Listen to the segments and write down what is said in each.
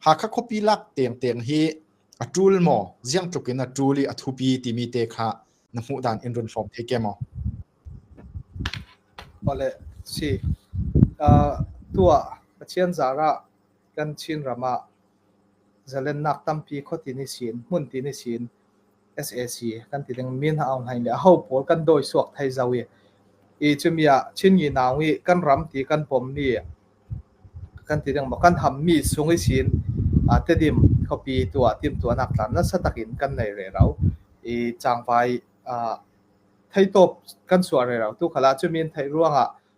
Hakha khuapi lak teengteeng hi a ṭul maw, ziangtluk in a ṭul i a thupi timi te kha na hmuh dan in run hrawm thai kem maw? Mawle, si. Uh, tuah Pathian zarah kan Chinram ah zalennak tampi khuati ni siin, hmun ti ni siin sac kan ti ding min a aung hain le aho pawl kan dawi suak thai zau i i cumi ah Chin Ngi Naung i kan ram ti kan pom ni kan ti ding maw kan ham mi sung i sin a tedim khuapi tua tim tua nak tlan na satak in kan nei re rau i changpai thei top kan suar re rau tu khala cumin thei ruang ah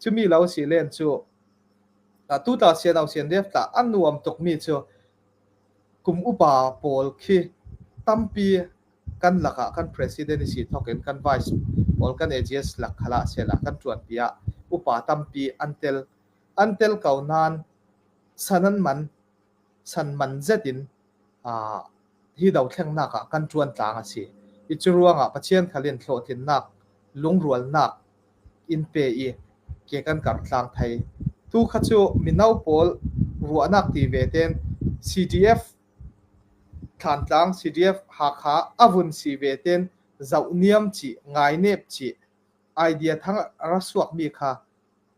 Cumi lo si len cu tu ta siano sian def ta an nuam tukmi cu kum upa pawl khi tampi kan lakah kan president si thokin kan vice pawl kan ags lak khala sela kan tuan pia upa tampi an tel an tel ko nan sanan man san man zet in ah, hi dothlennak ah kan ṭuan tlang a si i cu ruangah Pathian khal in hlawhtlinnak, lungrualnak in pe i ke kan karh tlang thai. Tu kha cu mino pawl ruahnak ti ve ten CDF Thlantlang CDF Hakha avun si ve ten zoh niam ci, ngai nep ci, idea thang ra suak mi kha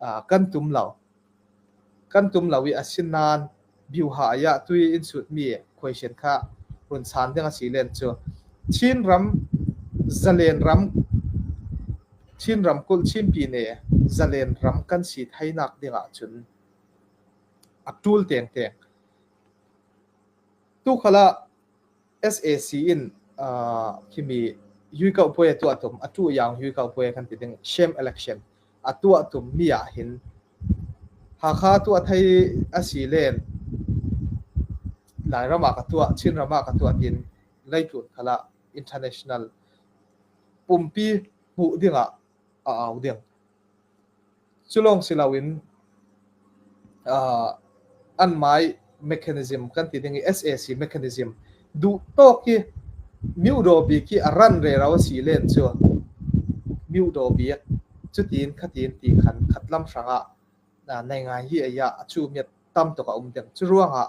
uh, kan tum lo kan tum lo i asin nain biuha ya tu in sut mi question kha run san ding a si len cu Chin ram zalen ram Chin ram kul Chin pi ne zalen ram kan si thainak ding ah cun a tul teng teng tu khala sac in himi yuikauh puai a tuah tum a tu yang yuikauh puai kan ti ding same election a tuah tum mi ah hin Hakha tu a thei a si len Lai ram ah ka tuah Chin ram ah ka tuah tin lei tlun khala international pumpi hmuh ding ah a au ding Cu lawng si loin an mah i mechanism kan ti ding i SAC mechanism duhtawk hi myodaw bik hi a ran rero a si len cu myodaw bik cutin khatin ti khan khat lam hrang ah nei ngai hi a iah a cumiat tam tuk a um ding. Cu ruangah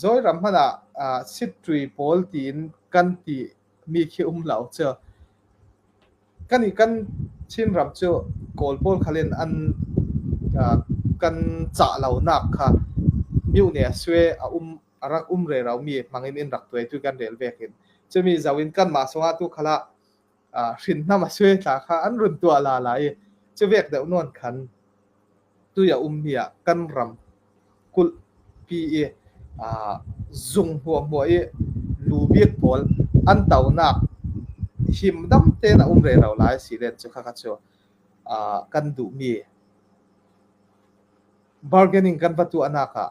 Zawiram hmanh ah aa sitṭui pawl tiin kan ti mi khi um lo cu. Kan i kan Chinram cu Kawl pawl khal in an aa kan cah lonak kha mioh nih a sue a um a rak um rero mi hmang in in rak tuai tu kan rel ve hin. Cumi zo in kanmah zong ah tu khal ah hrinnam a sui tla kha an run tuah la lai i cu vek deuh nuan khan tu ya um hi ah kan ram kulh pi i zung hua hua i lu bik pawl an taunak him dam tein a um re ro lai si len cu kha chu kan duh mi bargaining kan va tu anak ah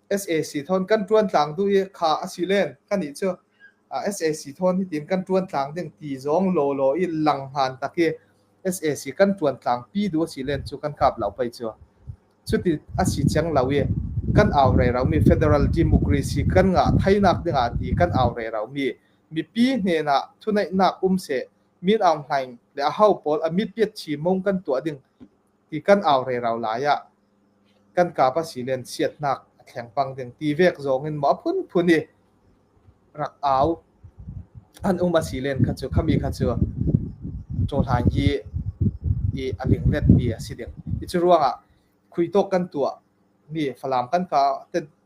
SAC thawn kan tuan tlang du i kha a si len kan nih cu SAC thawn hi tin kan tuan tlang ding ti zong lo lo i lang han tak i SAC kan tuan tlang pi du a si len cu kan kap lau pai cu cuti a si cheng lo i kan au rei raumi federal democracy kan nga thainak dingah ti kan au rei raumi mipi hnena thuneihnak um se min aung hlaing le a ho pawl a mit piat chi mong kan tuah ding i kan au rerau lai ah kan kapa silen chiatnak a thleng pang ding ti vek zong in maw phunphun i rak au an um a silen kha cu khami kha cu cawhlan hi i a linglet mi a si ding i cu ruangah khuitok kan tuah mi falam kan ka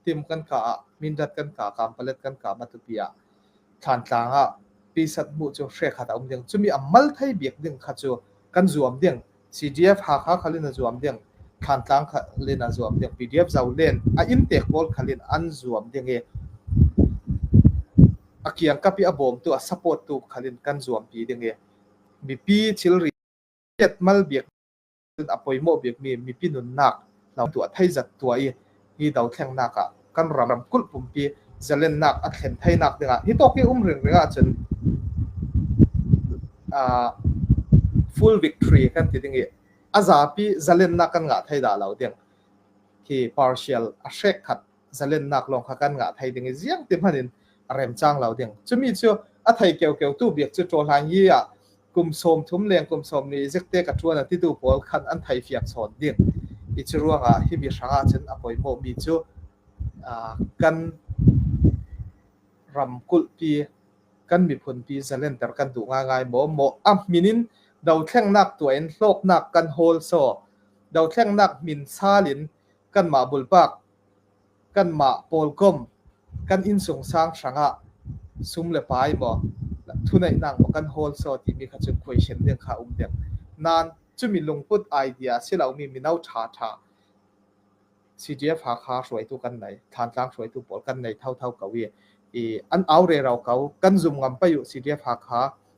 tim kan ka ah Mindat kan ka Kampalet kan ka Matupi ah thlantlang ah pisat mu cu hre khat a um ding cumi a mal thei biak ding kha cu kan zuam ding CDF Hakha khalin a zuam ding thlantlang khalin a zuam ding PDF zau len a in te pawl khalin an zuam ding i a kiang kapi a bawm tu a support tu khalin kan zuam pi ding i mipi thilri mal biak cun a pawimawh bikmi mipi nunnak hno tuah theizat tuah i hi dothlengnak ah kan ram ramkulh pumpi zalennak a thlen thainak dingah hi tok i um ringring ahcun uh, full victory kan ti ding i a zapi zalennak kan ngah thai da lo ding hi partial a hrek khat zalennak lawng kha kan ngah thai ding i ziang ti hmanh in a remcang lo ding cumi cu a thei keukeuk tu biak cu ṭawhlang i ah kum sawm thum leng kum sawm ni zikte ka ṭuan a titu pawl khan an thei fiak sawn ding i cu ruangah hi mi hrang ah cun a poimawh mi cu kan ramkulh pi kan miphun pi zalen ter kan duh ngai maw maw am minin do thlengnak tuain hlawknak kan hol so do thlengnak min salin kanmah bulpak, kanmah pawlkom, kan innsung sang hrangah sum le pai maw thuneihnak maw kan hawl so timi kha cun question ding kha um ding nan chumi lungput idea si lomi mino tha tha CGF ha kha hruaitu kan nei thantlang hruaitu pawl kan nei thau thau ko i i an aure rau ko kan zum ngam payu CGF ha kha